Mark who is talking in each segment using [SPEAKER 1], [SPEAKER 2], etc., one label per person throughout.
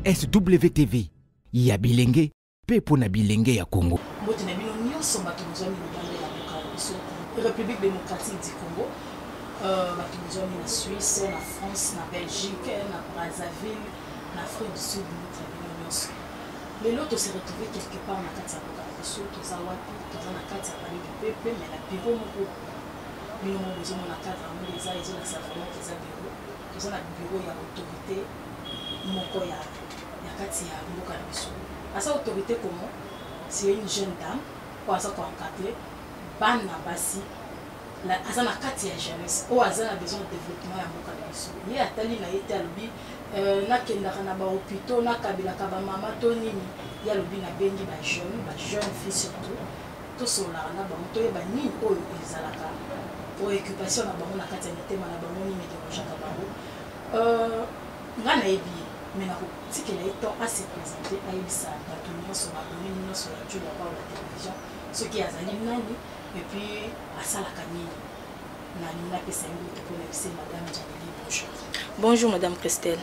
[SPEAKER 1] SWTV ya bilenge mpe mpo na bilenge ya Congo. Mbote na bino nyonso bato bozwami libanda ya
[SPEAKER 2] mboka na biso République démocratique du Congo euh, bato bozwami na Suisse na France na Belgique na Brazzaville na Afrique du Sud mbote na bino nyonso lelo tose retrouve quelque part na kati ya mboka na biso toza wapi toza na kati ya palais du peuple mais na bureau moko bino moko bozomona cadre yango eza ezolakisa vraiment eza bureau toza na bureau ya autorité moko ya ya kati ya mboka na biso aza autorité comment c'est une jeune dame oyo aza koencadre bana basi aza na kati ya jeunesse oyo aza na besoin ya développement ya mboka na biso ye atali na ye te alobi euh, nakendaka na bahopitau nakabelaka bamama to nini ye alobi nabengi bajeune bajeune fille surtout tosololaka na bango toyeba nini oyo ezalaka preoccupation na bango na kati ya mitema na bango nini ederangeaka bango euh, nga nayebi ye me nakotikela ye temps ase présente ayebisa bato nyonso baboni nyonso ya juda pao la télévision soki azali nani epuis asalaka nini nalingi napesa ye moto mpo na bise madame janeli bonjour bonjour madame
[SPEAKER 3] christelle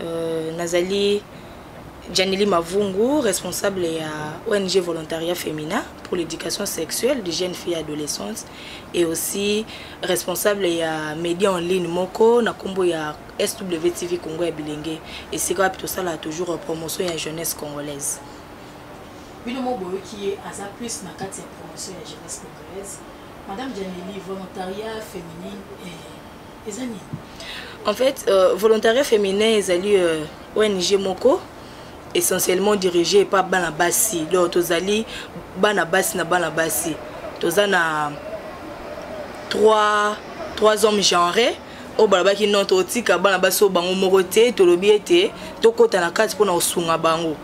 [SPEAKER 3] Euh, nazali Janely Mavungu, responsable de ONG Volontariat Féminin pour l'éducation sexuelle des jeunes filles et adolescentes et aussi responsable ya média en ligne moko na kombo ya SWTV Congo ya Bilenge et c'est quoi ça là toujours promotion ya jeunesse congolaise.
[SPEAKER 2] Bino mo qui ye aza plus na kati ya promotion ya jeunesse congolaise. Madame Janely volontariat féminin et eza nini en fait
[SPEAKER 3] euh, volontariat féminin ezali euh, ong moko essentiellement dirigé epa bana basi donc tozali bana basi na bana basi toza na trois, trois hommes genrés oyo balobaki non totika bana basi oyo bango moko te tolobi ete tokɔta na kati mpona kosunga bango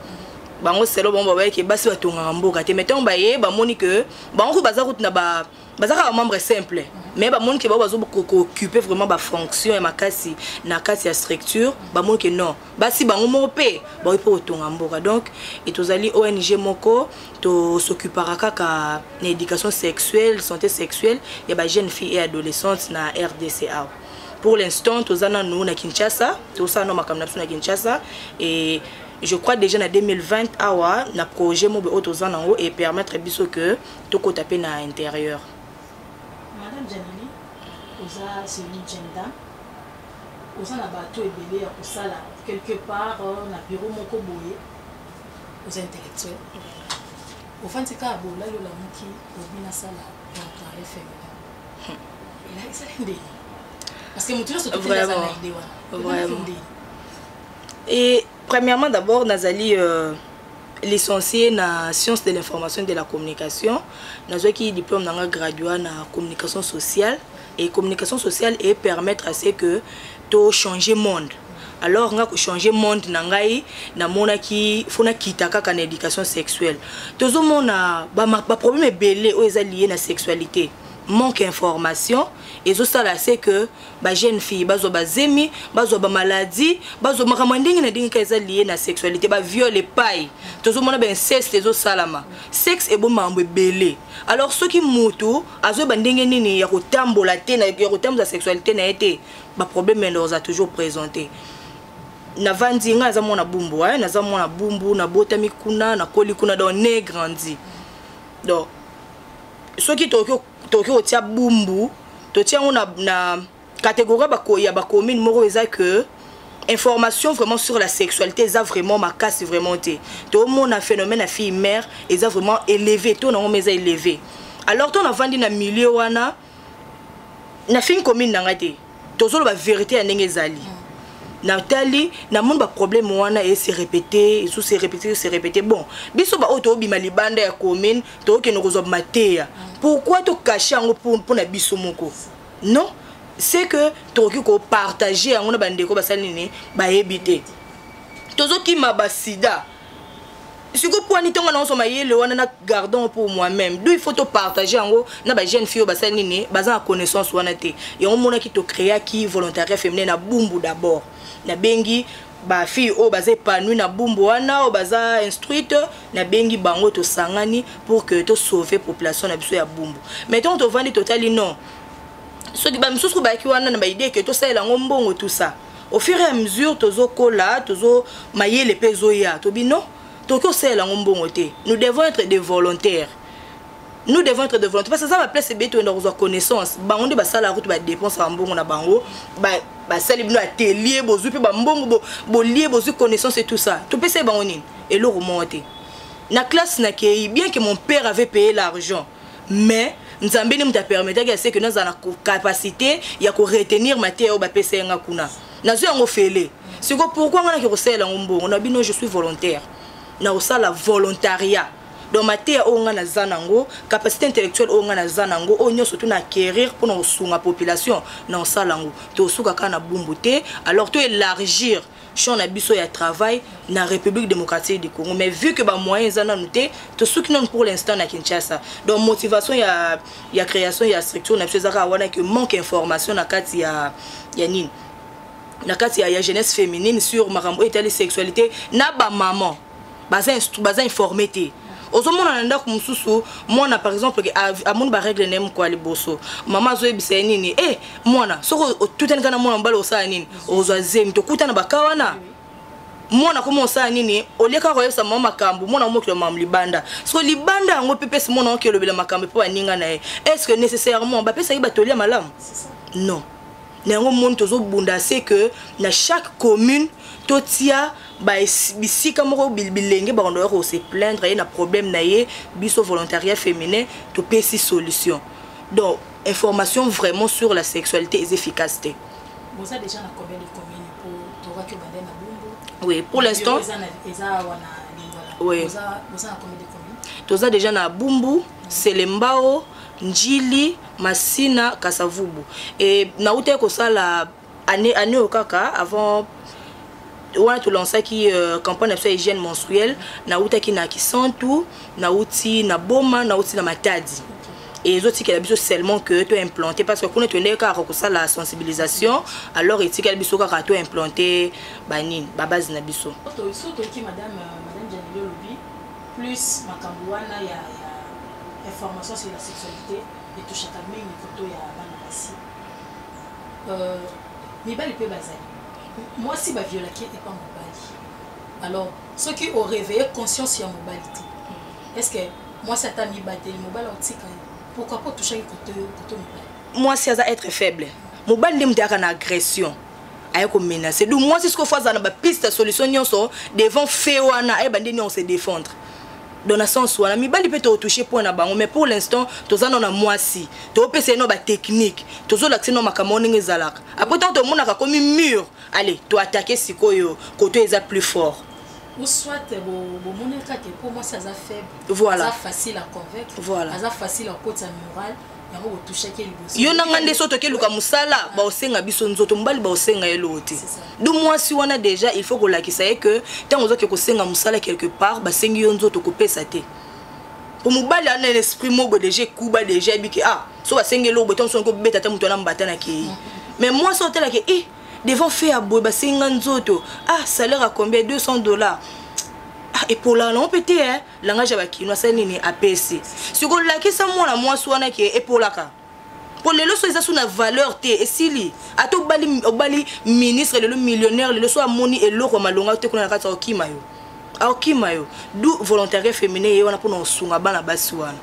[SPEAKER 3] bango selo bango babayeke basi batongaka mboka te mai ntango baye bamoni ke bango kutu baza kutu na ba baza kaka membre simple mais bamoni ke bao bazokokipe vraiment bafonction ya makasi na kati ya structure bamoni ke non basi bango moko mpe baoki mpe kotonga mboka donc e tozali ong moko tosokipaka kaka na éducation sexuelle santé sexuelle ya bajeune fille et adolescente na rdc awa pour l'instant toza nanu na kinshasa tosala no makambo na biso na kinshasa et je crois déjà na 2020 awa na projet mobe oyo toza nango e permettre biso que tokota pe na interieur
[SPEAKER 2] madame janini oza soni jenda oza na bato ebele ya kosala quelque part euh, na bureau moko boye oza intellectuel ofandi kaka bolali olamuki obi nasala employe féminin hmm. elakisaki ndenge parce que moto nyonso toteazana ide wana vraiment et Premièrement
[SPEAKER 3] d'abord nazali euh, licencié na sciences de l'information et de la communication. Nazwaki diplôme nanga graduat na communication sociale et communication sociale et permettre à ce que to changer monde. alors nga kochange monde na ngai namonaki fo nakita kaka na éducation sexuelle tozomona baproblème ba ebele oyo eza lie na sexualité manque information ezosala se que ba jeune fille bazwa bazemi bazwa bamaladi bazwa makambo ya ndenge na ndenge ka eza lie na sexualité baviol epai tozomona bainceste ezosalama sexe eboma mambo ebele alors soki motu azoyeba ndenge nini ya kotambola te ya kotambola sexualité na ye te baproblème ya lorza toujours présente navandi ngai naza mwana bumbu eh? naza mwana bumbu nabotami kuna nakoli kuna donc ne grandi donc soki tokoki tokoki kotia bumbu totia yango na, na catégorie bako, ya bacommune moko eza que information vraiment sur la sexualité eza vraiment makasi vraiment te tomona phénomène ya fille mère eza vraiment élevé to nango eza élevé alors to navandi na milieu wana nafingi commune na ngai te tozoloba verité ya ndenge ezali natali namoni baproblème wana ese répété esu se répété se répété bon biso baoyo tobima libanda ya commune tokokende kozwa mateya pourquoi tokache yango mpo na biso moko non c'est que tokoki kopartage yango na bandeko basali nini bayebi te tozokima basida sikoyo mpo ani ntongo naoso mayele wana na gardon pour moi-même do il faut topartage yango na bajeune fille oyo basali nini baza na connaissance wana te yango monaki tocréaki volontariat féminin na bumbu d'abord nabengi bafille oyo baza épanouie na bumbu wana oyo baza instruite nabengi bango tosangani pour que tosauve population na biso ya bumbu mais ntongo tovandi totali non soki bamisusu bayaki wana na baidee ke tosalela yango mbongo tout ça au fur et à mesure tozokola tozo mayele mpe ezoya tobi non tokoki kosalela yango mbongo te nous devons être des volontaires nous devons être des volontaires parce que eza baplace ebele toyenda kozwa connaissance bango nde basalaka kutu badépense ya mbongo na bango basali bino atelier bozwi mpe bambongo bolie bozwi connaissance et tout ça topesai bango nini eloko moko te na classe nakei bien que mon père avait payé l'argent mais nzambe nde moto apermetaki ya seke nazala na capacité ya koretenir mateya oyo bapesa ye nga kuna nazwi yango fele siko pourkui ngai nake kosalela yango mbongo na bino je suis volontaire na kosala volontariat donc mateya oyo ngai naza nango capacité intellectuelle oyo ngai naza nango oyo nyonso tu na acquérir mpona kosunga population na kosala yango tosuka kaka na bumbu te alors to élargir champ na biso ya travail na république démocratique du congo mais vu que bamoyen eza nanu te tosuki nanu pour l'instant na kinshasa donc motivation ya, ya création ya structure na biso eza kaka wana ke manque information na kati ya, ya nini na kati ya, ya jeunesse féminine sur makambo oyo etali sexualité na bamaman baza baza informé te ozomona na ndako mosusu mwana par exemple amoni baregle na ye mokwa liboso mama azoyebisa ye nini e mwana soki otutani kaka na mwana mobali osala nini ozwa zemi tokuta na baka wana mwana komi osala nini olie kaka koyebisa mama makambo mwana omokilo mama libanda so libanda yango mpe pesi mwana oki olobela makambo mpo baninga na ye est ce que nécessairement bapesaki batoli ya malamu non na yango moni tozobunda se que na chaque commune totia bisika moko bilenge bakondo ya kose plaindre ye na problème na ye biso volontariat féminin topesi solution donc information vraiment sur la sexualité eza efficace te boza déjà
[SPEAKER 2] na combien de commune po tokaki obanda na bumbu oui pour l'instant eza
[SPEAKER 3] wana oui boza na combien de commune toza déjà na bumbu selembao njili masina kasavubu e, nautaki kosala année année oyo kaka avant wana tolansaki uh, campagne na biso ya hygiène menstruelle nautaki na kisantu nauti na boma nauti na matadi ezotikela biso seulement que to implanté parce que kuna toyendeki kaka kosala sensibilisation alors etikali biso kaka to implanté banini babase na biso
[SPEAKER 2] Plus makambo wana ya ya information sur la sexualité etouchaka mingi koto ya bana basi. Euh, mibali mpe bazali mwasi baviolaki epa mobali alors soki oreveille conscience ya mobali te est ce que mwasi ata mibateli mobali aotika ye pourquoi po touchaki koto mibali mwasi aza être
[SPEAKER 3] faible mobali nde moto ayaka na agression aye ko menacer donc mwasi sikoyo fo azala na bapiste ya solution nyonso devant fe wana ayeba nde niongo se défendre dans na sens wana mibali mpe tokotouche point na bango mais pour l'instant toza nao na mwasi topesa ye nao batechnique tozolakisa ye nao makambo ndenge ezalaka après ntango tomonaka komi mur allez toatake sikoyo koto eza plus fort ou soit
[SPEAKER 2] bomonaka ke mpo mwasi aza faible voilà. aza facile à
[SPEAKER 3] convaincre
[SPEAKER 2] voilà. aza facile
[SPEAKER 3] à kotisa
[SPEAKER 2] morale yo na ngai nde so toke luka
[SPEAKER 3] mosala baosenga biso nzoto mobali baosenga ye loo te du mwasi wana déjà il faut kolakisa ye que ntango ozoke kosenga mosala quelque part basengi yo nzoto kopesa te po mobali ana na esprit moko déjà ekuba déjà yebi ke ah so basengi eloko boye ntango so kobeta ata moto wana mbata na kei mais mwasi otalaka e eh, devant fe ya boye basengi nga nzoto ah salaire ya combien 200 dollars ah epolaka nango mpe te eh. langage ya bakino asali nini apesi siko lakisa mwana mwasi wana ke epolaka mpo lelo so eza so na valeur te esili ata obali, obali ministre lelo millionnaire lelo so amoni eloko ya malonga te kuna na kati akokima yo akokima yo du volontariat féminin ye wana mpona kosunga bana basi wana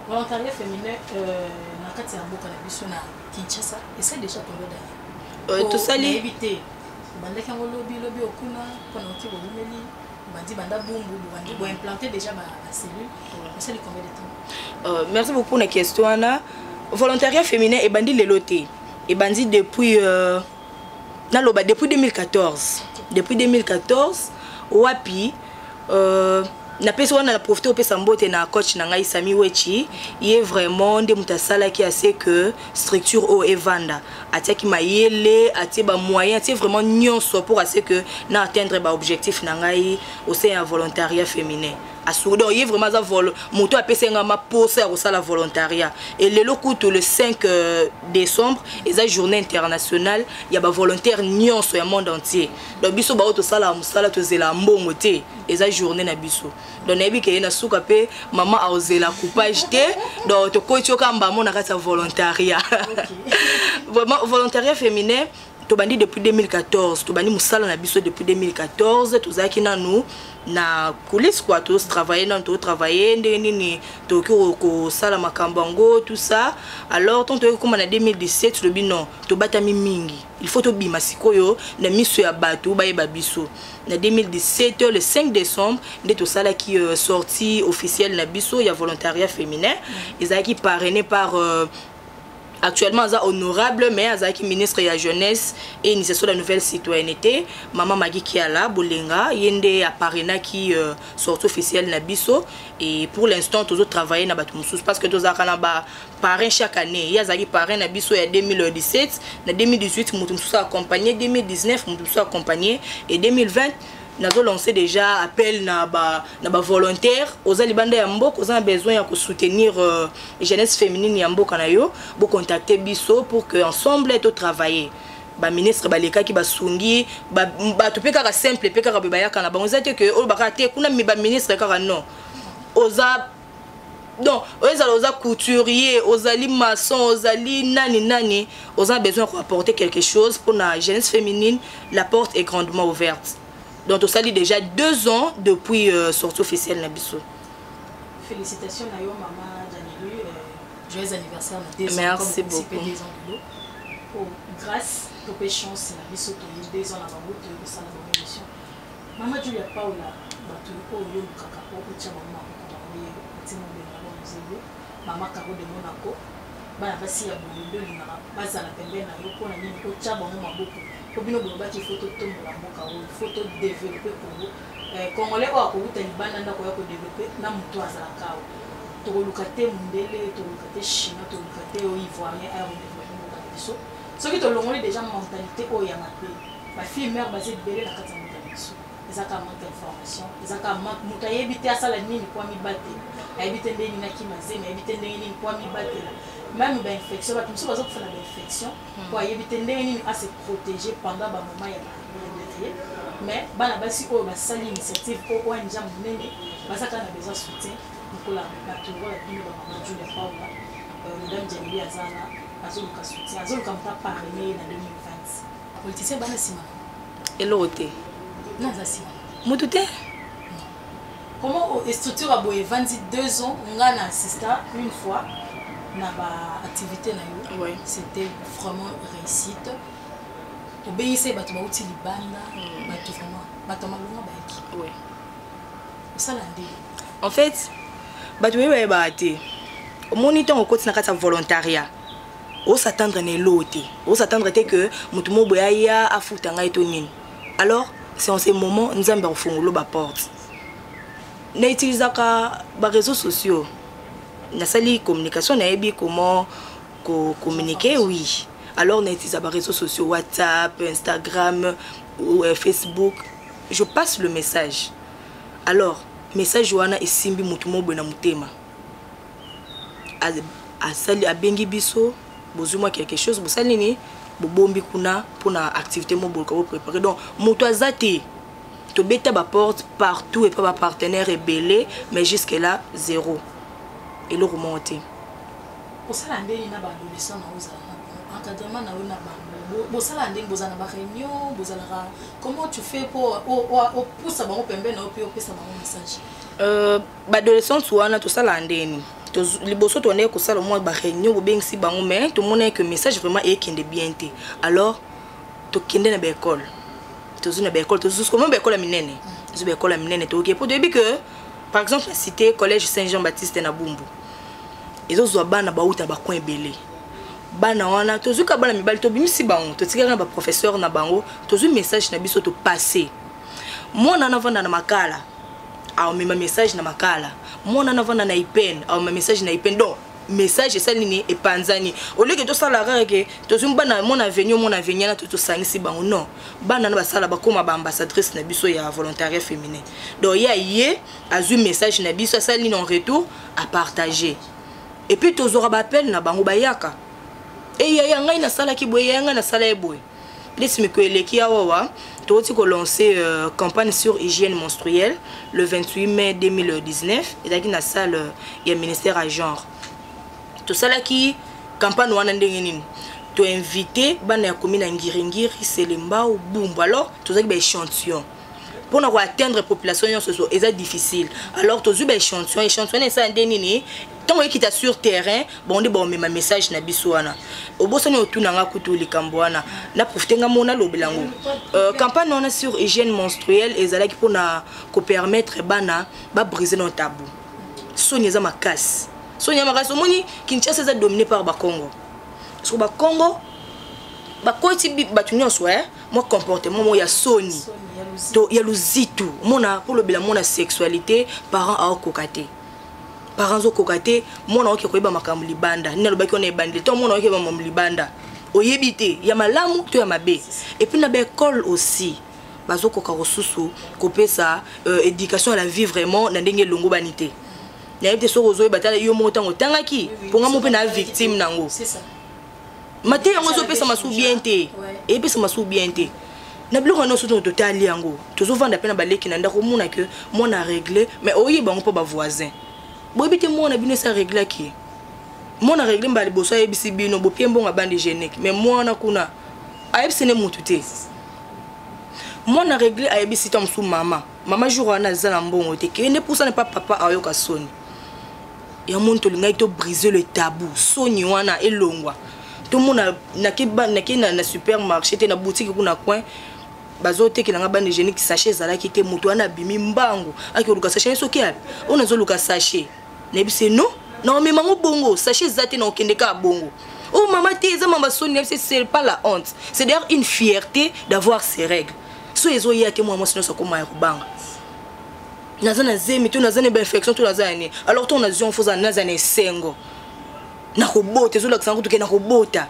[SPEAKER 3] volontariat
[SPEAKER 2] féminin euh, na kati ya mboka na biso na kinshasa esa déjà tondo dani tosali bandaki yango lobi lobi okuna mpona oki boumeli bandi banda bumbu bobandi bo implanter déjà ba cellule osali combien de temps euh, merci beaucoup pour la question wana
[SPEAKER 3] volontariat féminin ebandi lelo te ebandi depuis euh, naloba depuis 2014 depuis 2014 wapi euh, napesi wana na profite opesa mbote na coach na ngai sami wechi ye vraiment nde moto asalaki ase que structure oyo evanda atiaki mayele atie bamoyen atie vraiment nyonso pour ase que na atteindre baobjectif na ngai au sein ya volontariat féminin asuki donc ye vraiment aza moto apesi ngai maposa ya kosala volontariat e lelo kutu le 5 euh, décembre eza journée internationale ya bavolontaire nyonso ya monde entier donc biso baoyo tosalaka mosala tozela mbongo te eza journée na biso donc nayebi keye na suka mpe mama aozela coupage te donc tokoti yo kamba mo na kati ya volontariat vraiment volontariat féminin tobandi depuis 2014 tobandi mosala na biso depuis 2014 tozalaki nanu na coulisse kua totravaille nanu totravaille ndenge nini tokoki kosala makambo yango tout ça alors ntango toyoki koma na 2017 tolobi non tobatami mingi il faut tobima sikoyo na miso ya bato bayeba biso na 2017 le 5 décembre nde tosalaki euh, sortie officielle na biso ya volontariat féminin mm. ezalaki parrainé par euh, actuellement aza honorable mais azalaki ministre ya jeunesse et initiation de la nouvelle citoyenneté mama magi kiala bolenga ye nde aparenaki euh, sortie officielle na biso et pour l'instant tozotravaille na bato mosusu parce que tozalaka na ba parrain chaque année ye azalaki parrain na biso ya 2017 na 2018 moto mosusu accompagne 2019 moto mosusu accompagne e 2020 nazo lancer déjà appel na ba na ba volontaire oza libanda ya mboka oza na besoin ya kosoutenir euh, jeunesse féminine ya mboka na yo bocontacte biso pour que ensemble to travailler baministre balekaki basungi bato mpe kaka simple mpe kaka boye bayaka na bango eza te ke oyo bakaka te kuna baministre kaka non oza donc ezala oza couturier ozali maçon ozali nani nani oza besoin ya koapporter quelque chose mpona jeunesse féminine la porte est grandement ouverte donc tosali déjà deux ans depuis euh, sortie officielle na biso
[SPEAKER 2] félicitations na yo mama janelu euh, joyeux anniversaire na deux merci ans, beaucoup
[SPEAKER 3] deux ans de oh,
[SPEAKER 2] grâce tope chance na biso toyi deux ans na bango toyokosala bango émission Mama Julia Paula, bato oyo yolukaka po otya bango maboko bango ye otima obenga bango mozelu mama Caro de Monaco bana basi ya boye nde olingaka bazala pembeni na yo mpo na nini otya bango maboko mpo bino bolobaki ifo totombola mboka oyo ifo todevelope kongo eh, congolais oyo akowuta libanda nde akoya kodevelope na moto azalaka awa tokoluka te mondele tokoluka te chinois tokoluka te oyo ivoirien ayo kodevelope mboka na biso soki tolongoli deja mentalité oyo ya mabe ba fille mère baza ebele na kati ya mboka na biso eza kaka manque information eza kaka manque moto ayebi te asala nini mpo amibatela ayebi te ndenge nini akima zemi ayebi te ndenge nini mpo amibatela meme bainfection bato mosusu baza kofana bainfection hmm. mpo ayebi te ndenge nini ase protege pendant bamoma ya ye mais bana basi oyo basali initiative mpo oyo nja monene baza kaka na besoin soutien lokola bato lokola bino bamama julia paula euh, madame jamili azana azoluka soutien azoluka moto aparene ye na 2020 politicien bana sima eloko te
[SPEAKER 3] non aza
[SPEAKER 2] sima mutu te comment oh, structure ya boye evandi deux ans nga na assista une fois na baactivité na yo ouais. c'était vraiment réussite obeyisa ye bato bauti libanda hmm. bato vraiment bato ya malonga bayaki ouais. osala nde en fait bato baye bayebaka te omoni ntango okoti na kati ya volontariat o s'attendre na eloo te o s'attendre te que moto moko boye aya afuta ngai to nini alors c'est en ce moment nzambe akofungolo baporte na utilisaka bareseau sociaux nasali communication nayebi comment kocommuniquer oui alors na utilisaka bareseau sociaux whatsapp instagram ou euh, facebook je passe le message alors message wana esimbi moto moko boye na motema asali abengi biso bozwi mwa quelque chose bosali nini bobombi kuna mpona activité mo boluka boprépare donc moto aza te tobeta baporte partout epa bapartenaire ebele mais jusque là zéro eloko moko te osala ndenge na baadolescent na ozala na encadrement na yo na bango bosala ndenge bozala na baréunion bozalaka comment tu fais mpo opusa bango pembeni na yo mpe opesa bango message euh, baadolescente wana tosalaka ndeni liboso toandaki kosala mwa baréunion bobengisi bango mais tomonaki que message vraiment ekende bien te alors tokende na baekole tozwi na baekole tozuskomo baekole ya minene tozwi baekole ya minene toyoki mpo toyebi que par exemple na cité collège saint jean baptiste na bumbu ezozwa bana bauta bacoin ebele bana wana tozwi ka bana mibali tobimisi bango totikaka na baprofesseur na bango tozwi message na biso topasse mwana anavanda na makala aomema
[SPEAKER 3] message na makala mwana na vanda na ipene aomema message na ipene donc message esali nini epanzani oleke tosala kaka ke tozwi bana mwana avenio mwana avenia na to tosangisi bango non bana na basala bakóma baambassadrice na biso ya volontariat féminin donc ye aye azwi message na biso asali nini en retour apartage epuis tozwaka baappel na bango bayaka eyaya ngai nasalaki boye yaya ngai nasala ye boye Please miko eleki awawa tokoti kolancer euh, campagne sur hygiène menstruelle le 28 mai 2019 ezalaki na salle euh, ya ministère ya genre tosalaki campagne wana ndenge nini toinvite bana ya komi na ngiringiri selembao bumbu alors tozalaki baéchantillon mpo na koatteindre population nyonso so eza difficile alors tozwi baéchantillon échantillon na esala nde nini ntango ekita sur terrain bango nde baomema message na biso wana obosani otuna nga kutu likambo wana na profite nga mona lobela yango euh, campagne wana sur hygiène menstruelle ezalaki mpo na kopermettre bana babrise na tabu soni eza makasi soni ya makasi omoni kinshasa eza domine par bakongo soki bakongo bakoti bato nyonso eh? mwa comportement moko ya soni to ya luzitu omona mpo olobela mwana sexualité parent aokoka te parent azokoka te mwana oke koyeba makambo libanda nini alobaki wana ebandi to mwana oke makambo libanda oyebi te ya malamu to ya mabe epuis na baekole aussi bazokoka kosusu kopesa euh, éducation à la vie vraiment na ndenge elongobani te nayebi te soki ozoyeba tala yo moko ntango otangaki mpo nga mo mpe na victime nango
[SPEAKER 2] mateya
[SPEAKER 3] yango ezopesa masuku bien te epesa masuku bien te na biloko yango nyonso ntongo totali yango tozovanda mpe na baleki na ndako omona ke mwana aregle mais oyeba yango mpo bavoisin boyebi te mwana bino esi areglaki ye mwana aregle mbala liboso ayebisi bino bopie mbongo abandi genique mais mwana kuna ayebisi nde motu te mwana aregle ayebisi ta mosusu mama mama jour wana aza na mbongo te kende pusana mpa papa ayoka soni ya moni tolingaki to brise le tabou soni wana elongwa tomona nake na, na supermarché te na boutique kuna coin bazotekela nga bande hygiénique sachet ezalaki te moto wana abimi mbangu akoluka sachet soki api oyo nazoluka sachet nayebise non naomema yango bongo sachet eza te naokende kaka bongo oh mama te eza mama soni nayebise c'est pas la honte c'est d'ailleurs une fierté d'avoir ses règles so ezoya te mwana mwasi nyonso akoma ya kobanga naza na zemi to naza na bainfection to naza ya nini alors ntongo nazwi yango foza naza na esengo nakobota ezolakisa yango toke nakobota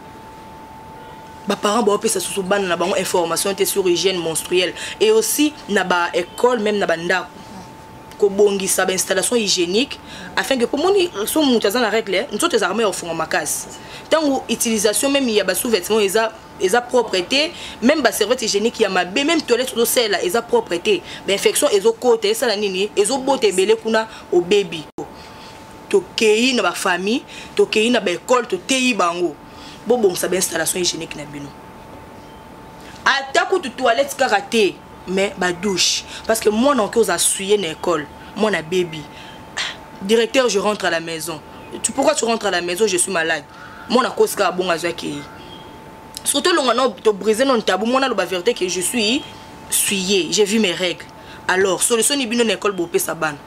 [SPEAKER 3] baparent baopesa susu bana na bango information te sur hygiène monstruelle et aussi na baécole même na bandako kobongisa bainstallation hygiénique afin que pomoni so moto aza na règle nzoto ezalaka mai ya kofunga makasi ntango utilisation meme ya basous-vêtement eza eza propre te même ba serviette hygiénique ya mabe même toilette ozosalela eza propre te bainfection ezokota esala nini ezobota ebele kuna obebi tokei na bafamille tokei na baekole toteyi bango bobongisa bainstallation hygiénique na bino ata kutu toilette kaka te mais badouche parce que mwana oke oza suye na ekole mwana bebi ah, directeur je rentre à la maison tu, pourquoi tu rentres à la maison je suis malade mwana kosi kaka bongo azwi akei soki tolonga no tobrise no ntabu mwana aloba verité ke je suis suye j'ai vu mes règles alors solution ni bino na ekole bopesa bana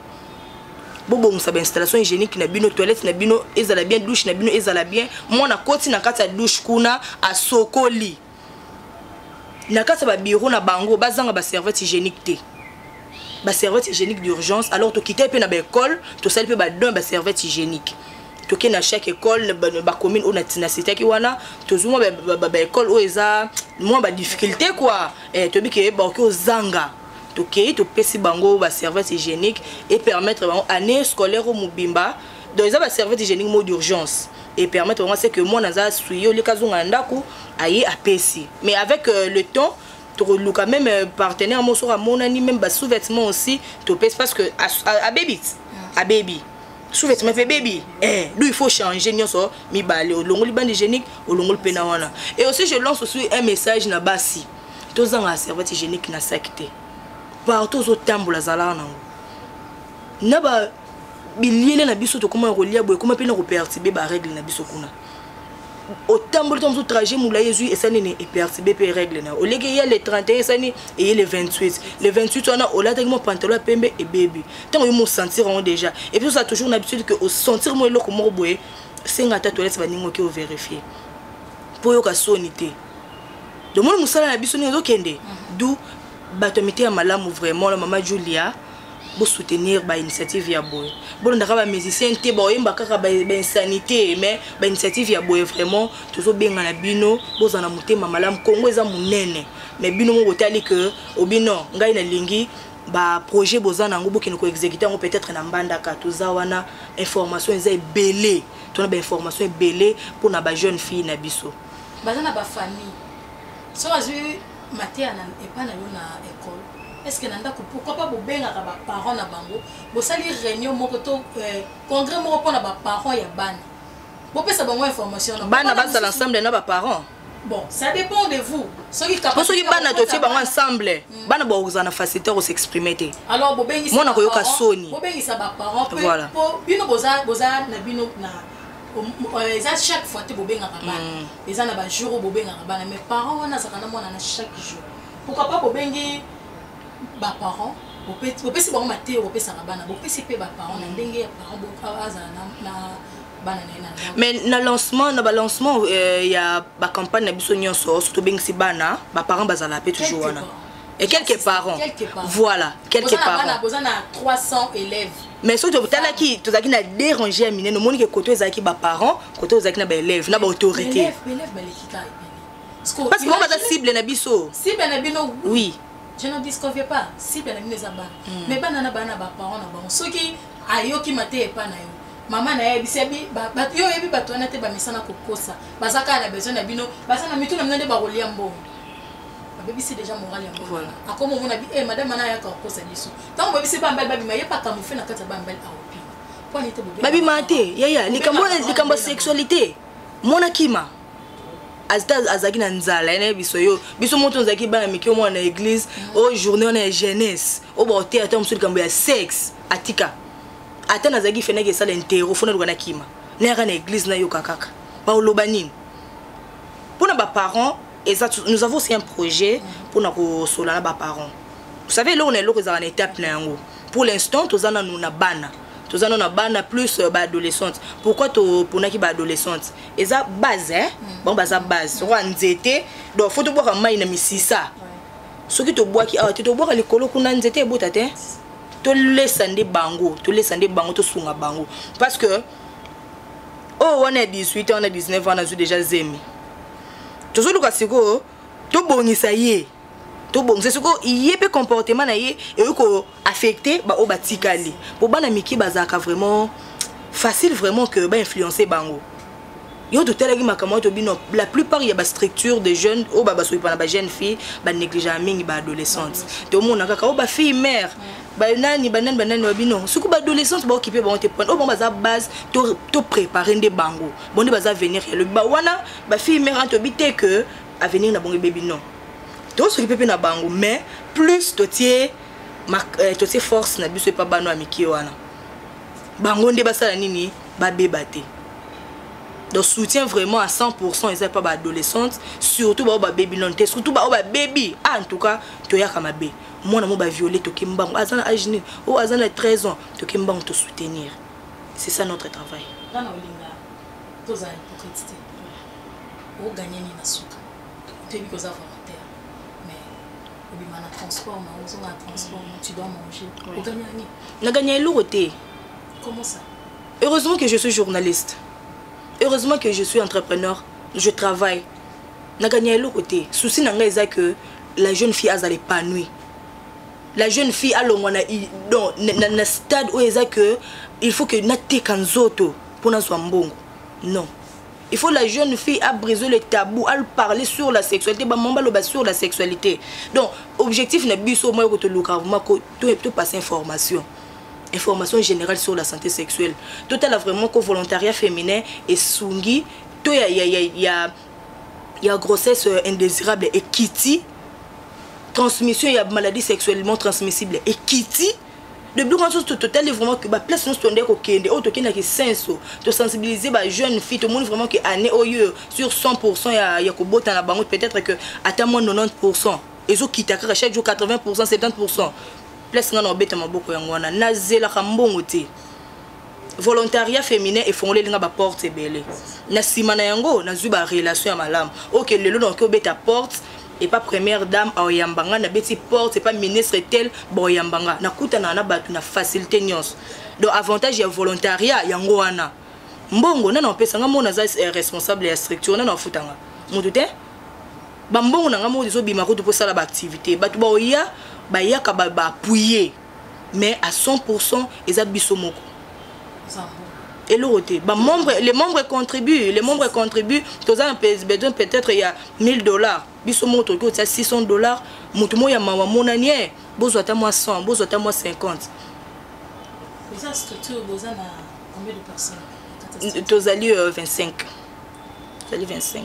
[SPEAKER 3] bobongisa bainstallation hygiénique na bino toilette na bino ezala bien douche na bino ezala bien mwana akoti na kati ya douche kuna asokoli na kati ya babiro na bango bazanga baservice hygiénique te baservice hygiénique d'urgence alors tokitaki mpe na baekole tosali mpe badon ya baservice hygiénique toke na chaque école bacommune oyo na sitaki wana tozwi mwa baekole oyo eza mwa badifficulté kua eh, toyebi ke baoki ozanga tokei topesi bango baservice hygiénique epermettre bango année scolaire oyo mobimba donc eza ba serviette hygiénique mot d'urgence et permettre bango c'est que mwana aza asui yo leka azonga na ndako aye apesi mais avec euh, le temps tokoluka même euh, partenaire moko soki amonani même ba sous-vêtement aussi topesi parce que abebi abebi sous-vêtement mpe ebebi eh, do il faut changer nyonso mibale olongoli bande hygiénique olongoli mpe na wana et aussi je lance aussi un message na basi tozanga serviette hygiénique na saki te partout ozotambola zalaka nango na ba biliele na biso tokoma na kolia boye ekoma mpe na kopertibe barègle na biso kuna otamboli ntango mosusu trajet molai ezwi esali nini epertibe mpe règle na yo oleki eya le 31 esali eye le 28 le 28 wana olataki mwa pantalo ya pembe ebebi ntango yo mosentir yango déjà epuis oza toujours na habitude ke osentir mwa eloko moko boye senga ata toilette baningi oke overifie mpo oyoka soni te domoni mosala na biso ndenge ezokende mhm. du bato ya mite ya malamu vraiment na mama julia bo soutenir ba initiative ya boye bolondaka ba musicien te baoyemba kaka ba insanité mais ba initiative ya boye vraiment tozobenga na bino boza na motema malamu kongo eza monene mais bino mo botali ke obino ngai nalingi baprojet boza na yango bokende koexécute yango peut-être na mbandaka toza wana information eza ebele tona bainformation ebele mpona bajeune fille na biso baza na bafamille
[SPEAKER 2] so bazwi mateya na epa na yo na ecole est ce que na ndako pourquoi pas bobengaka baparent na bango bosali réunion moko to euh, congrès moko mpo na baparent ya bana bopesa bango information bana bazala ensemble na
[SPEAKER 3] baparent bon ça dépend
[SPEAKER 2] de vous soki po soki bana totie bango
[SPEAKER 3] ensemble hmm. bana bakozala na facilité ya kosexprime te alors bobengisa mona
[SPEAKER 2] koyoka soni
[SPEAKER 3] bobengisa baparent
[SPEAKER 2] voilà. po bino boza na bino na Euh, eza chaque fois te bobengaka bana mm. eza na bajour oyo bobengaka bana mais parent wana azalaka na mwana na chaque jour pourquoi pas bobengi baparent bopesi bango mateyo bopesaka bana bopesi mpe baparent na mm. ndenge ya parent ah, azala na bana na ye na mais na lancement
[SPEAKER 3] na balancement euh, ya bacampagne na biso nyonso so tobengisi bana baparent bazala mpe toujours wana et quelques parents voilà quelques parents boza na 300
[SPEAKER 2] élèves mais soki totalaki
[SPEAKER 3] tozalaki na dérange ya minene omoni ke koto ezalaki baparent koto ozalaki na baélève na baautorité parce que bango baza cible na biso cible na bino
[SPEAKER 2] oui je ne
[SPEAKER 3] discovie
[SPEAKER 2] pas cible na bino eza bana hmm. mais bana na bana baparent na bango soki ayoki mateya epa na yo mama na ye bisebi yo oyebi bato wana te bamesana kokosa baza kaka na besoin na bino baza na mitu na bino nde bakolia mbongo babebisi deja morale yango voilà. akoma omona bi eh, madame ana ayaka kokosa biso ntango babebisi bambali babima ye bakamofe na kati ya bambali aopima mpo anete babima te yaya
[SPEAKER 3] likambo likambo sexualité mwana kima azita azalaki na nzala ene biso yo biso moto ozalaki bana mike omwana na église mm. o journée wana ya jeunesse o baoteya ta mosusu likambo ya sexe atika ata nazalaki fenaki esala intero fo naluka na kima nayaka na église nayoka kaka baoloba nini mpo na baparent eza nous avons aussi un projet mpona kosola na baparents vous savez eloko na eloko ezalaka na étape na yango pour l'instant toza nanu na bana toza nano na bana plus euh, baadolescente pourquoi toponaki baadolescente eza base eh? mm. bango baza base okoa nzete donc fo tobwaka mai na misisa soki tobwaki awa te tobwaka likolo kuna nzete ebota te tolesa nde bango tolesa nde bango tosunga bango parce que oyo oh, wana ya 18 ans na 19 ans nazwi déjà zemi tozoluka sikoyo tobongisa ye tobongisa sikoyo ye mpe comportement na ye eyoki koaffecte baoyo batikali mpo bana mike bazalaka vraiment facile vraiment que bainfluence bango yo totalaki makambo wana tobino la plupart ya bastructure de jeunes oyo babasokipa na bajeune fille banegligeaka mingi baadolescente tomona kaka oyo bafille mare banani banani banani babino soki baadolescente baokipe bango te pone oyo bango baza base to prépare nde bango bonde baza avenir ya lobi ba wana ba fille mère anto bite que avenir na bongo baby non to soki pepe na bango mais plus to tie euh, to tie force na biso epa bano ya mike wana bango nde basala nini babeba te donc soutien vraiment à 100% eza epa baadolescente surtout baoyo babebi nano te surtout baoyo babebi ah, en tout cas toyaka mabe mwana mo baviole toke mbango aza na age nini oyo aza na 13 ans toke mbango tosoutenir c'est ça notre travail nga na olinga
[SPEAKER 2] tozala hypocrite te oganye nini na suka toyebi koza volontaire mais obima na transport na ozonga na transport na tu dois manger oganya nini naganya eloko te
[SPEAKER 3] comment ça
[SPEAKER 2] heureusement que je suis
[SPEAKER 3] journaliste heureusement que je suis entrepreneur je travaille naganya eloko te souci na ngai eza que la jeune fille azala épanouie la jeune fille alongwa na, na, na, na stade oyo eza que il faut que nateka nzoto mpo nazwa mbongo non il faut la jeune fille a brisé le tabou a parler sur la sexualité ba mamba loba sur la sexualité donc objectif na biso moi ko to luka vraiment ko to to passer information information générale sur la santé sexuelle totala vraiment ko volontariat féminin esungi to ya ya ya, ya ya grossesse euh, indésirable ekiti transmission ya maladie sexuellement transmissible ekiti de biloko nyonso totali vraiment ke baplace nyonso tondai kokende oyo tokendaki senso tosensibilize bajeune fille tomoni vraiment ke année oyo sur 100 pourcent ya, ya kobota na bango peut-être que ata moins 90 pourcent ezokita kaka chaque jour 80 pourcent 70 pourcent place ngai na obeta maboko yango wana nazelaka mbongo te volontariat féminin efongoleli nga baporte ebele na nsima na yango nazwi barelation ya malamu oke okay, lelo nakoki obeta porte epa première dame aoyamba nga nabeti porte epa ministre tel baoyamba nga nakutanaka na bato na facilité nyonso donc avantage ya volontariat yango wana mbongo nana opesa nga mona aza eh, responsable ya structure nana ofuta nga motu te bambongo na nga moko ezobima kutu mpo osala baactivité bato baoya bayaka baapuye ba mais à 100 pourcent eza biso moko eloko te bamembre les membres contribue les membres contribue toza na besoin peut-être ya 1000 dollars biso moko tokoki kotia 600 dollars moto moko ya mawa amonani e bozwa ata mwa 100 bozwa ata mwa 50 tozali
[SPEAKER 2] 25 tozali 25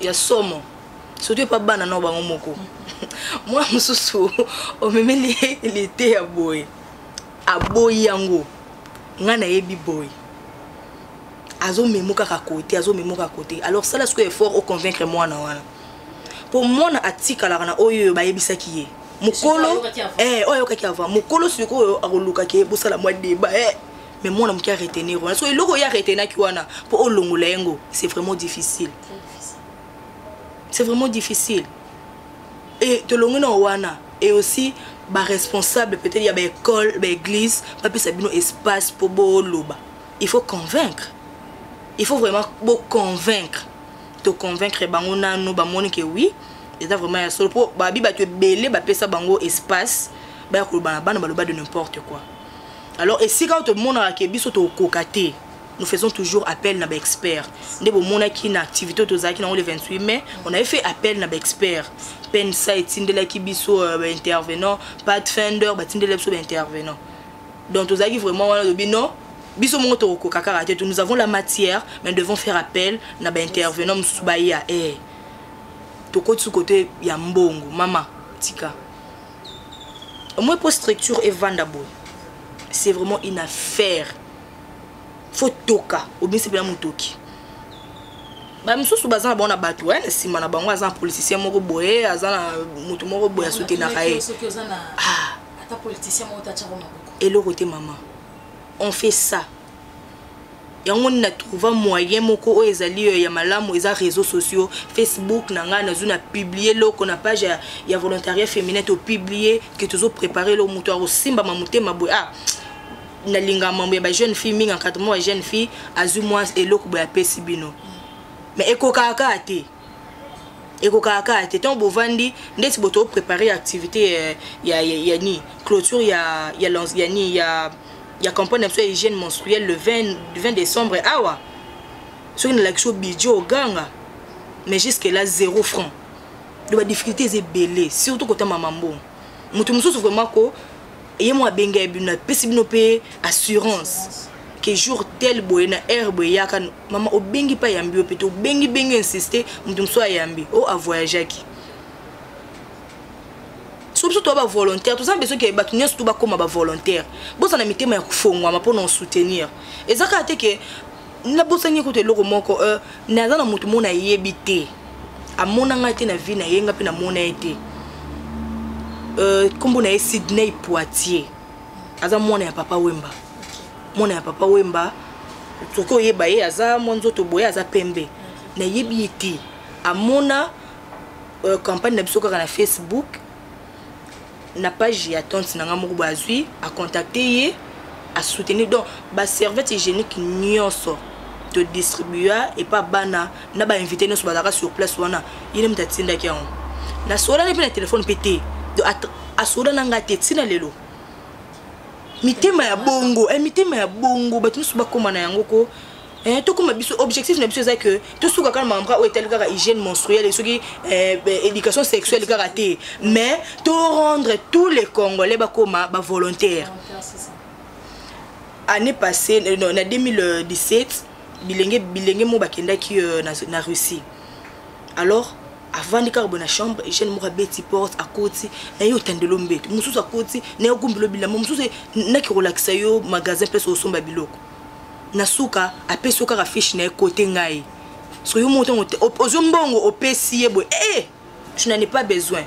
[SPEAKER 2] ya
[SPEAKER 3] somo surtout epa bana nao bango moko mwana mosusu omemeli lite ya boye aboyi yango ngai nayebi boye azomemo kaka kote azomemo kaka kote alors sala sikoyo effort oconvaincre mwana wana mpo mwana atikalaka na oyo oyo bayebisaki ye mokolo oyo ayokaki ava eh, mokolo sikoyo akolukaki ye bosala mwa deba e eh, mais mwana moke aretenir wana so eloko ye aretenaki wana mpo olongola yango c'est vraiment difficile c'est vraiment difficile e tolongi na wana et aussi baresponsable peut-être ya baekole baeglise bapesa bino espace mpo boloba il faut convaincre il faut vraiment boconvaincre toconvaincre bango nanu bamoni ke oui eza vraiment ya solo mpo babi bato ebele bapesa bango espace baya koloba na bana baloba de n'importe quoi alors esika oyo tomonaka ke biso tokoka te nous faisons toujours appel na baexpert nde bomonaki na activité oyo tozalaki nango le 28 mai on avait fait appel na baexpert pensa etindelaki biso euh, baintervenant pat fender batindelaki biso baintervenant donc tozalaki vraiment wana lobi non biso moko tokokoka kaka te nous avons la matière mais nous devons faire appel na baintervenant mosusu baya e eh. tokotisi kote ya mbongo mama tika au moins mpo structure evanda boye c'est vraiment une affaire fo toka obimisi mpena motoki bamisusu baza na bango na bato eh, na nsima na bango aza na politicien moko boye aza na moto moko boye asutenaka ye ah. eloko te mama on fait ça yango nini na trouva moyen moko oyo ezali yo ya malamu eza réseau sociaux facebook na ngai nazwi na publie loko na page ya, ya volontariat féminin topublie ke tozo prépare eloko moto akosimbama motema boye ah nalinga mambo ya bajeune fille mingi encadrement ya jeune fille azwi mwa eloko boye apesi bino mais ekokaka te ekokaka kaka te ntango bovandi ndeti boto oprépare activité eh, ya, ya, ya ni clôture ya, ya, ya, ya, ni, ya, ya campagne na biso ya hygiène menstruelle le 20, 20 décembre awa soki nalakisi yo bidjo oganga mais jusque là zéro franc do badifficulté eza ebele surtout kotambama mbongo moto mosusu vraiment ko ye mwa abengeli bino apesi bino mpe assurance ke jour tel boye na heure boye eyaka mama obengi mpe ayambi yo mpe te obengi bengi insiste moto mosusu ayambi o oh, avoyageaki so biso toya bavolontaire toza na besoin ke bato nyonso to bakóma bavolontaire bozala na mitema ya kofongwama mpo na osoutenir eza kaka te ke nabosani kutu eloko moko euh, naza na moto mona ayebi te amona ngai te na vie na ye ngai mpe namona ye te euh, nkombo na ye sydney poitier aza mwana ya papa wemba mwana ya papa wemba soki oyeba ye aza mwa nzoto boye aza pembe nayebi ye te amona euh, campagne na biso kaka na facebook na page ya tonte na ngai moko boye azwi acontacte ye asoutenir donc baservice hygiénique nyonso todistribua epa bana na bainvité nyonso bazalaka sur place wana ye nde moto atindaki yango nasolani mpe na telefone mpe te asoda na ngai te ntina lelo mitema ya bongo eh, mitema ya bongo bato nyonso bakóma na yango ko Eh, tokoma biso objectif na biso eza que tosuka kaka na makambo kaka oyo etali kaka hygiène menstruelle soki eh, eh, éducation sexuelle kaka te mais to rendre tous les congolais bakoma bavolontaire année passée euh, non, na 2017 bilenge bilenge moko bakendaki euh, na, na russie alors avandi kaka boye na chambre eugène moko abeti porte akoti na ye otandelo mbeto mosusu akoti na ye ogumbelo bilamba mosusu naki kolakisa yo magasin mpe osomba biloko na suka apesi yo kaka fiche na ye kote ngai soki yo moko ntango ozwi mbongo opesi ye boye e eh, je n'en ai pas besoin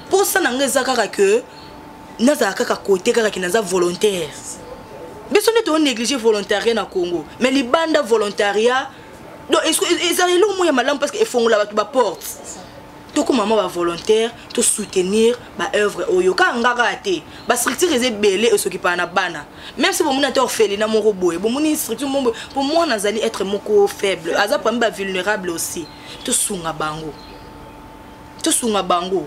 [SPEAKER 3] mposa na ngai eza kaka ke nazala kaka kote kaka ke naza volontaire biso nde toonéglige volontariat na congo mais libanda volontariat donc ezala eloko moko ya malamu parce que efongola bato baporte tokóma mwa bavolontaire tosoutenir baœuvre oyo kaka nga kaka te bastructure eza ebele esokipaka na bana même si bomoni ata orphelina moko boye bomoni structure moko boye mpo mwana azali être moko faible aza parmi bavulnérable aussi tosunga bango tosunga bango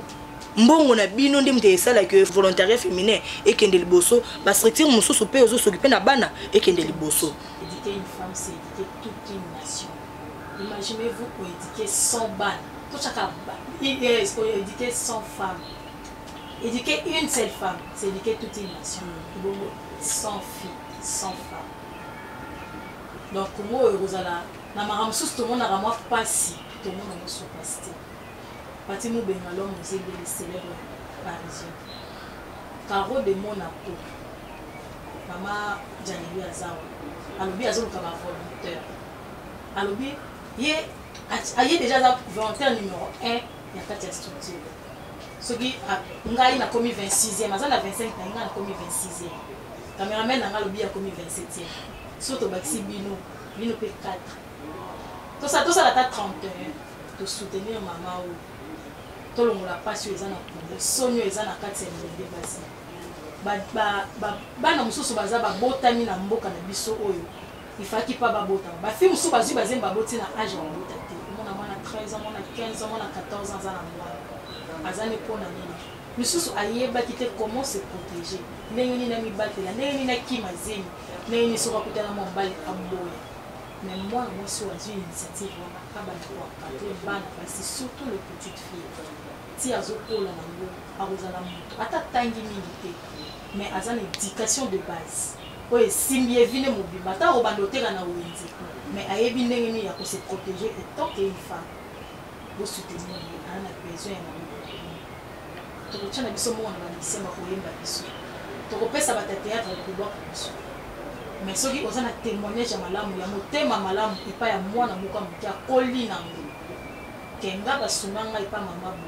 [SPEAKER 3] mbongo na bino nde moto esalaki volontariat féminin ekende liboso bastructure mosusu mpe ozosoki mpe na bana ekende liboso
[SPEAKER 2] Imaginez-vous pour éduquer 100 balles. Tout chacun, pour éduquer 100 femmes. Éduquer une seule femme, c'est éduquer toute une nation. Bongo, sans fille, sans femme. Donc, Congo, Rosala, na makambo mosusu tomonaka mwa mpasi tomona mosusu mpasi te pati mobenga lome ozebeli célèbre parisien caro de monaco mama janeli azawa alobi azoluka bavolontaire alobi ye aye deja aza volontaire numéro 1 ya kati ya structure soki ngai nakomi 26e aza na 25 na ngai nakomi 26e cameraman na ngai alobi akomi 27e so tobakisi bino bino mpe 4 tosala tosala ata 31 tosoutenir mama oyo tolongola mpasi oyo eza na kongo soni oyo eza na kati ya bilenge basi bana mosusu baza babotami na mboka na biso oyo il fallaki pas babota ba fille mosusu bazwi bazemi baboti na age ya kobota te omona mwana 13 ans mwana 15 ans mwana 14 ans aza na mwana aza ne mpo na nini misusu ayebaki te comment se protéger ndenge nini amibatela ndenge nini akima zemi ndenge nini soki akutana mwa mobali aboya me mwana mwasi oyo azwi initiative wana abanda koakate bana basi surtout le petite fille ti azokola nango akozala moto ata atangi mingi te mais aza na education de base oyo esimbi ye vine mobimba ata obanda oteka na wenze mais ayebi ndenge nini ya kose protege etant ke une femme bosoutenir ye aa na besoin ya maboko tokotya na biso moko na bamisia bakoyemba biso tokopesa bata théâtre kolobaka biso mais soki oza na témoignage ya malamu ya motema malamu epai ya mwana moko ya moke akoli na ngo kenga basunga ngai epai mama bo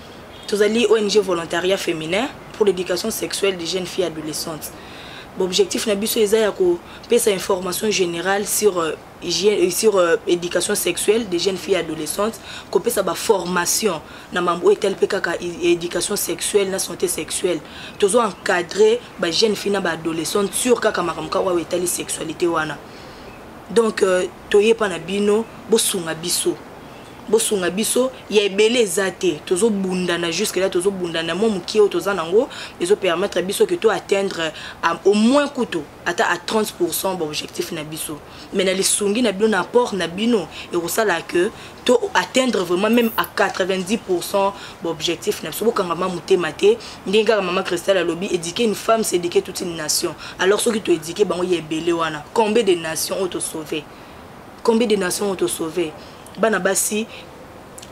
[SPEAKER 3] tozali ong volontariat féminin pour l'éducation sexuelle des jeunes filles adolescentes baobjectif na biso eza ya kopesa information générale sur euh, euh, sur euh, éducation sexuelle des jeunes filles adolescentes kopesa baformation na mambo oyo etali mpe kaka éducation sexuelle na santé sexuelle tozo encadre bajeune fille na baadolescente sur kaka makambo kaka oyo etali sexualité wana donc toyepa na bino bosunga biso bosunga biso ya ebele eza te tozobundana jusque là tozobundana mwa mokie oyo toza nango ezopermettre biso ke to atteindre au moins kutu ata à 30 pourcent baobjectif na biso mais na lisungi na bino na apport na bino ekosala ke to atteindre vraiment même à 90 pourcent baobjectif na biso bokangama motema te ndenge kaka mama cristal alobi éduquer une femme c'est éduquer toute une nation alors soki toéduquer bango ya ebele wana combien de nation oyo tosauve combien de nations ont sauvé bana basi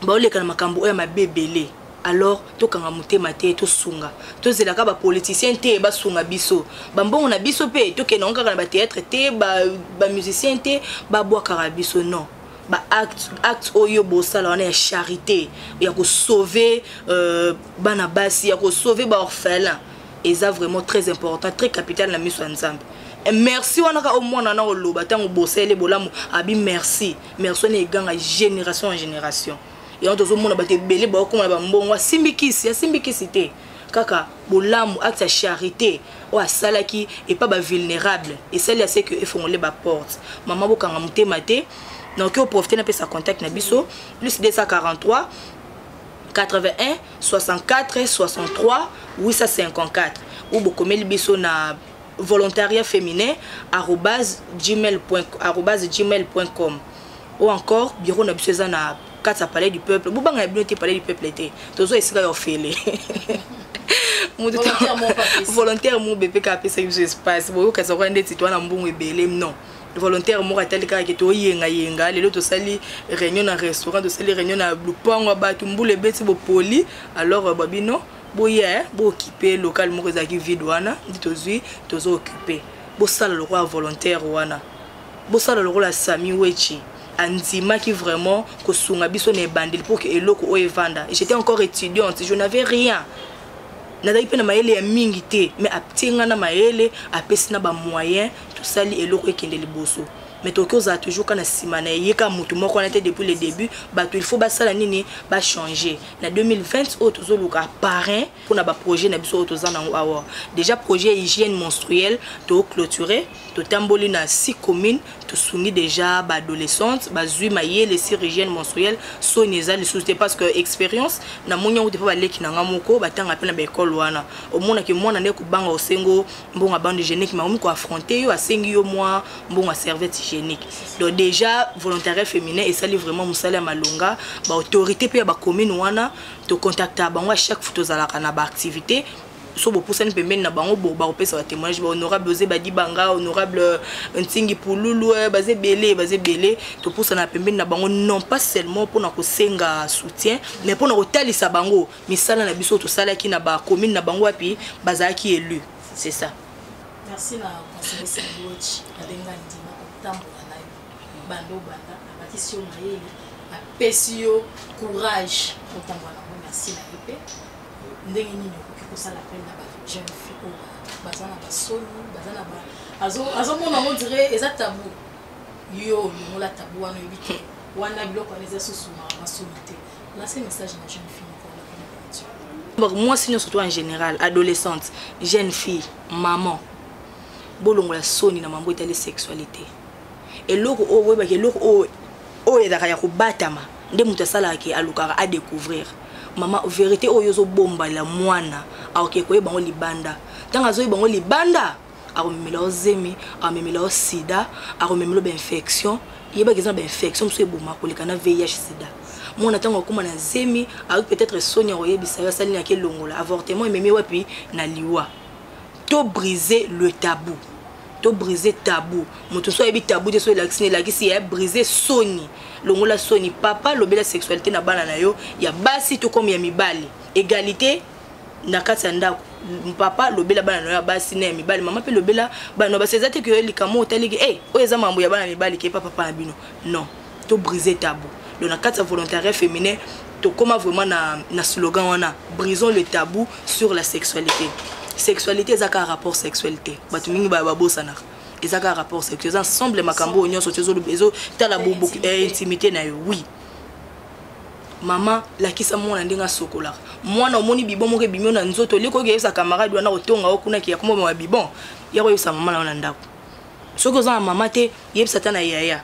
[SPEAKER 3] baoleka na makambo oyo ya mabe ebele alors tokanga motema te tosunga tozelaka bapoliticien te basunga biso bambongo na biso mpe tokende yango kaka na batheatre te bamusicien ba te babwakaka biso non baacte acte oyo bosala wana ya charité ya kosauve euh, bana basi ya kosauve baorphelin eza vraiment très important très capital na miso ya nzambe eh, merci wana kaka omwana na oloba ntango bosele bolamu abi merci merci wana eganga génération en génération yango tozomona bato ebele baokoma na bambongo asimbi kisi asimbi kisi te kaka bolamu acte ya charité oyo asalaki epa bavulnérable esali ya seke efongole baporte mama bokanga motema te naoki oprofite napesa contact na biso plus 243 81 64 63 854 ou bokomeli biso na volontariat féminin arobase gmail arobase gmail point com ou encore bureau na biso eza na kati ya palais du peuple bobanga ya bino te palais du peuple te tozwa esika ya ofele moto volontaire mo bepeka apesaki biso espace boyokasa kwa ndeti twana mbongo ebele non volontaire moko atali kaka ke toyengayenga lelo tosali réunion na restaurant tosali réunion na lupango ya bato mbula ebeti bopoli alors ba bino boye bookipe local moko ezalaki vide wana ndi tozwi tozo okipe bosala lokola volontaire wana bosala lokola sami wechi andimaki vraiment kosunga biso na ebandeli mpo ke eloko oyo evanda j'étais encore étudiante je n'avais rien nazalaki mpe na mayele ya mingi te mais atie ngai na mayele apesi na bamoyen tosali eloko ekende liboso mais tokoki ozala toujours ka na nsima na ye ka motu moko wana te depuis le début bato il faut basala nini bachange na 2020 oyo tozoluka parrain mpo na baprojet na biso oyo toza nango awa déjà projet hygiène menstruelle toclôture totamboli na six commune tosungi déjà baadolescente bazwi mayele sur hygiène menstruelle soni eza lisusu te parce que expérience namoni yango depa baleki na nga moko batanga mpe na baekole wana omonake mwana nde kobanga osengo mbongo bande hygiénique makomi ko affronter yo asengi yo mwa mbongo serviette hygiénique donc déjà volontariat féminin esali vraiment mosala ya malonga baautorité mpe ya bacommune wana tocontacta bango à chaque fois tozalaka na baactivité so bopusani pembeni na bango bo bakopesa batémoignage bahonorable oze badibanga honorable euh, ntingi pululu euh, baza ebele baza ebele topusana pembeni na bango non pas seulement mpona kosenga soutien mais mpona kotalisa bango misala na biso tosalaki na ba commune na bango wapi bazalaki élu c'est ça merci na
[SPEAKER 2] conseiller Sangochi abenga ndima kotambola na yo bando banda abakisi yo mayele apesi yo courage kotambola na ngo merci na yo mpe ndenge nini okoki kosala pene na ba jeune fille oyo baza na basoni baza na ba azomona yango dire eza tabu yo olongola tabu wana oyebi te wana biloko wana eza susu masoni te Lance message na jeune fille moko wana pona batu. Mwasi nyonso to en général,
[SPEAKER 3] adolescente, jeune fille, maman, bolongola soni na mambo etali sexualité. Eloko oyo boyebaka eloko oyo oyo ezalaka ya kobatama nde moto asalaka ke alukaka a découvrir mama verité oyo ozobomba la mwana aoke koyeba yango libanda ntango azoyeba yango libanda akomemela yo zemi akomemela yo sida akomemela yo bainfection yebaka eza na bainfection mosusu eboma koleka na vih sida mwana ntango akóma na zemi ayoki peut-être soni ya koyebisa yo asali naki elongola avortement ememi wapi na liwa to brise le tabou to brise tabou moto so ayebi tabou te so elakisi elakisi ya brise soni longola soni papa lobela sexualité na bana na yo ya basi to comme ya mibali égalité na kati ya ndako papa lobela bana na yo ya basi na ya mibali mama mpe lobela bana na basi eza te keyo likambo otaliki e eh, oyo eza mambo ya bana mibali ke pa papa na bino non to brise tabou donc na kati ya volontariat féminin tokóma vraiment na, na slogan wana brisons le tabou sur la sexualité sexualité eza kaka rapport sexuel te bato mingi babosanaka eza kaka rapport sexuel eza ensemble makambo oyo nyonso ezotala intimité na yo oui mama lakisa mwana ndenge asokolaka mwana omoni bibon moko ebimio na nzoto eleki oyo keyebisa camarade wana kotonga o kuna ke yakomobama bibon ya koyebisa mama na yo na ndako soki oza na mama te yebisa ata na yaya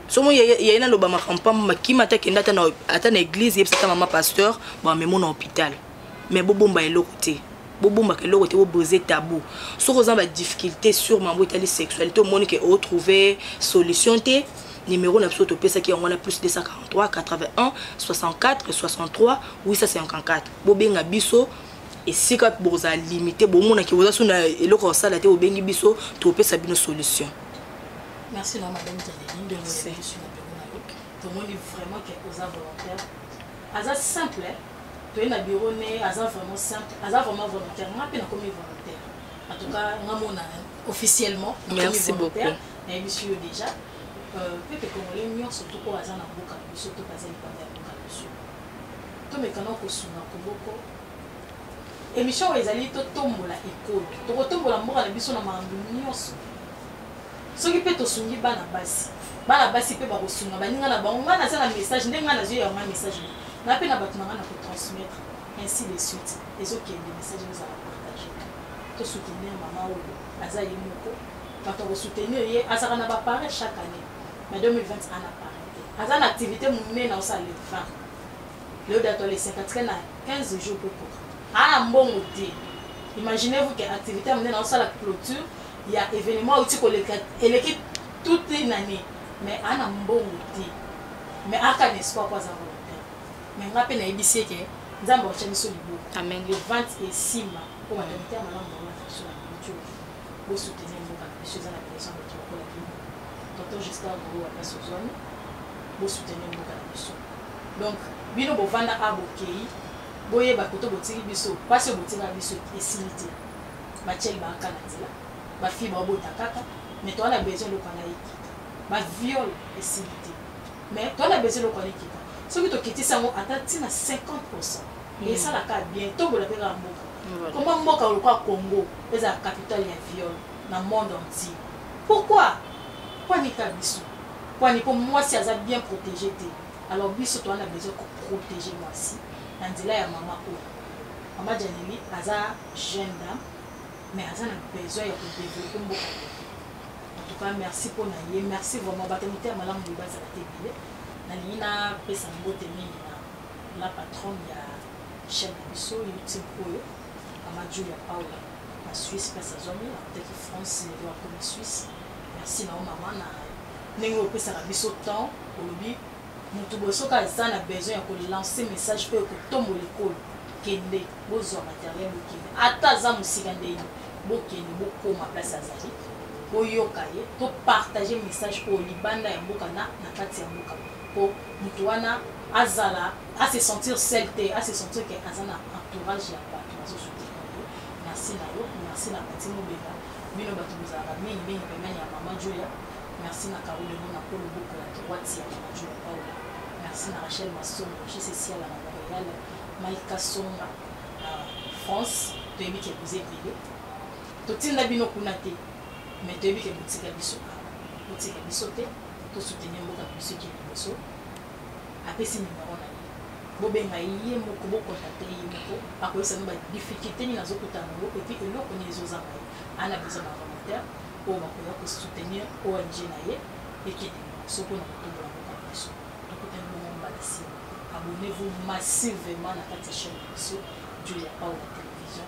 [SPEAKER 3] somo yaye nalobamaka mpamba makima ata kenda ata na eglise yebisa ata mama pasteur bamemo na hôpital mais bobomba eloko te bobombaka eloko te bobrise tabou soki oza ba difficulté sur mambo etali sexualité omoni ke otrouve solution te numéro na biso topesaki yango wana plus 243 81 64 63 854 bobenga biso esika bokozala limité bomonaki boza so na eloko ya kosala te bobengi biso topesa bino solution merci
[SPEAKER 2] na madame tomoni vraiment ke oza volontaire aza simple toye na bureau ne aza vraiment simple aza vraiment volontaire nga mpe nakomi volontaire en tout cas nga mona officiellement nakomi volontaire
[SPEAKER 3] nayebisi yo
[SPEAKER 2] déjà euh, peuple congolais nyonso to oyo aza na mboka na biso to baza libanda ya mboka na biso tomekana kosunga koboko émission oyo ezali totombola ekolo tokotombola mboka na biso na makambo nyonso soki mpe tosungi bana basi bana basi mpe bakosunga baninga na bango ngai naza na message nde ngai nazwi yango ngai message na mpe na bato na ngai na kotransmettre ainsi de suite ezokende message ezala partage tosoutenir mama oyo aza ye moko bato akosoutenir ye azalaka na bapareil chaque année na 2020 ana pareil te aza na activité monene osala le 20 leo dato le 54 na 15 jours mpe kora ana mbongo te imaginez vous que activité ya monene osala clôture ya evenement auti koleka eleki toute une année mais ana mbongo te mais aka na espoir po aza volontaire mais nga mpe nayebisi eke nzambe akotya biso liboka le vente
[SPEAKER 3] esimba
[SPEAKER 2] mpo batalite ya malamu bango na biso na bijo bosoutenir mboka na biso eza na besoin bato lokola bino tonton justin golo wa place ozwami bosoutenir mboka na biso donc bino bovanda a bokei boyeba koto botiki biso mpasi oyo botika biso esili te batieli ba kaka na nzela bafille babota kaka mais toa na besoin eloko wana ekita baviol esili te mais toa na besoin eloko wana ekita soki tokitisi yango ata ntina 50 pourcent mm. esalaka bien tobola mpe kaka mboka koma mboka lokola congo ezala capitale ya viol na monde entier pourquoi pwani ka biso pwani mpo mwasi aza bien protégé te alors biso toa na besoin koprotégé mwasi na nzela ya mama oyo mama janeli aza jeune dame mais aza na besoin ya kodevelope mboka en tout cas merci mpo na ye merci vraiment bato motema malamu boye bazala te ebele nalingi napesa mbote mingi na la patronne ya chaîne na biso youtube oyo mama julia paula na suisse place azwami akotaki france lelo akomi suisse merci na yo mama na ndenge opesaka biso temps olobi mutu boye soki aza na besoin ya ko lancer message oyo ekotombola ekolo kende bozwa materiel bokende ata aza mosika ndenge bokende bokoma place azali boyoka ye topartage message oyo libanda ya mboka na na kati ya mboka mpo moto wana azala ase sentir sel te ase sentir ke aza na entourage ya bato bazosutena ye merci na yo merci na pati mobeka bino bato bozalaka mingi mingi pembeni ya mama julia Merci na Carole Lemon na Paul Mbuku na Kiwati ya Mama Juma Paula. Merci na Rachel Masongo, JC Siala na Montreal, Mike Kasonga na France. Toyebi ke boza ebele. Totinda bino kuna te, mais toyebi ke botika biso awa. Botika biso te, tosoutenir mboka na biso ekende liboso. Apesi numero na ye. Bobenga ye moko, bokontakte ye moko, akoyebisa bino ba difficulté nini azokutana na yango, epuis eloko nini ezozanga ye. Ana besoin ba volontaire, oyo bakoya ko soutenir ONG na ye ekende liboso mpo na kotombola mboka na biso tokutani bongo mbala nsima abonnez-vous massivement na kati ya chaîne na biso Julia Paula Television